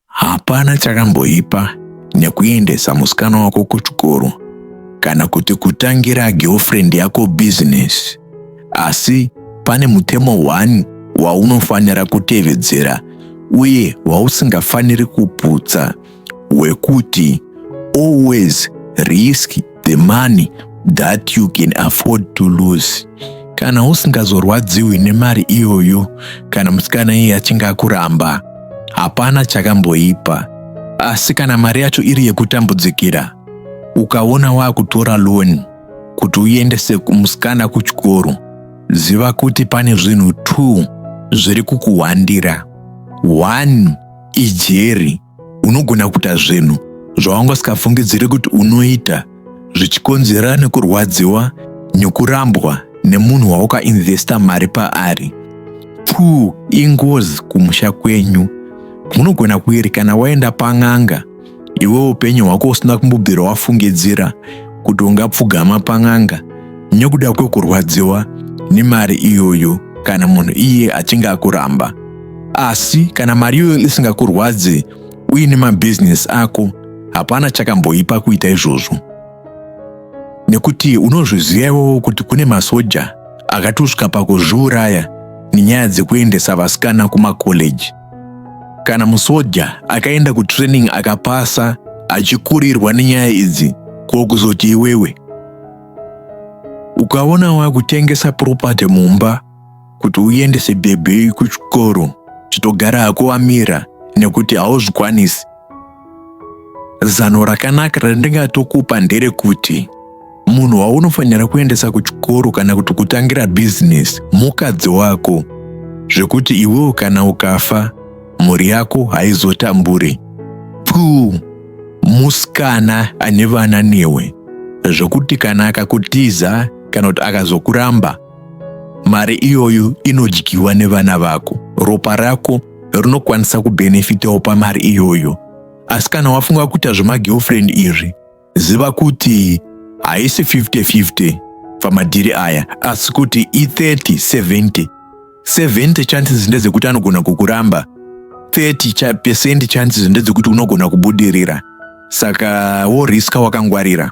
Hapana chakamboipa nekuendesa musikana wako kuchikoro kana kuti kutangira girlfriend yako business. Asi pane mutemo one waunofanira kutevedzera uye wausingafaniri kuputsa. wekuti always risk the money that you can afford to lose kana usingazorwadziwi nemari iyoyo kana musikana iye achinge akuramba hapana chakamboipa asi kana mari yacho iri yekutambudzikira ukaona waakutora loan kuti uendese musikana kuchikoro ziva kuti pane zvinhu two zviri kukuhwandira one ijeri unogona kuita zvinhu zvawanga usikafungidziri kuti unoita zvichikonzera nekurwadziwa nekurambwa nemunhu waukainvesta mari paari two ingozi kumusha kwenyu munogona kuiri kana waenda pan'anga iwe upenyu hwako usina kumbobvira wafungidzira kuti ungapfugama pan'anga nekuda kwekurwadziwa nemari iyoyo kana munhu iye achinge akuramba asi kana mari iyoyo isingakurwadze uine mabhizinesi ako hapana chakamboipa kuita izvozvo nekuti unozviziva iwowo kuti kune masoja akatusvika pakuzviuraya nenyaya dzekuendesa vasikana kumakoleji Kana musoja akaenda kutraining akapasa achikurirwa nenyaya idzi ko kuzoti iwewe ukaona wakutengesa property mumba kuti uendese bhebhi kuchikoro chitogara hako wamira nekuti hauzvikwanisi Zano rakanaka randingatokupa nderekuti munhu waunofanira kuendesa kuchikoro kana kuti kutangira bhizinesi mukadzi wako zvekuti iwewo kana ukafa mhuri yako haizotamburi puu musikana ane vana newe zvekuti kana akakutiza kana kuti akazokuramba mari iyoyo inodyiwa nevana vako ropa rako rinokwanisa kubenefitawo pamari iyoyo asi kana wafunga kuita zvemagirlfriend izvi ziva kuti haisi 50-50 pamadhiri aya asi kuti i30-70 70 chances ndedzekuti anogona kukuramba 30 percent chances ndedzekuti unogona kubudirira saka woriska wakangwarira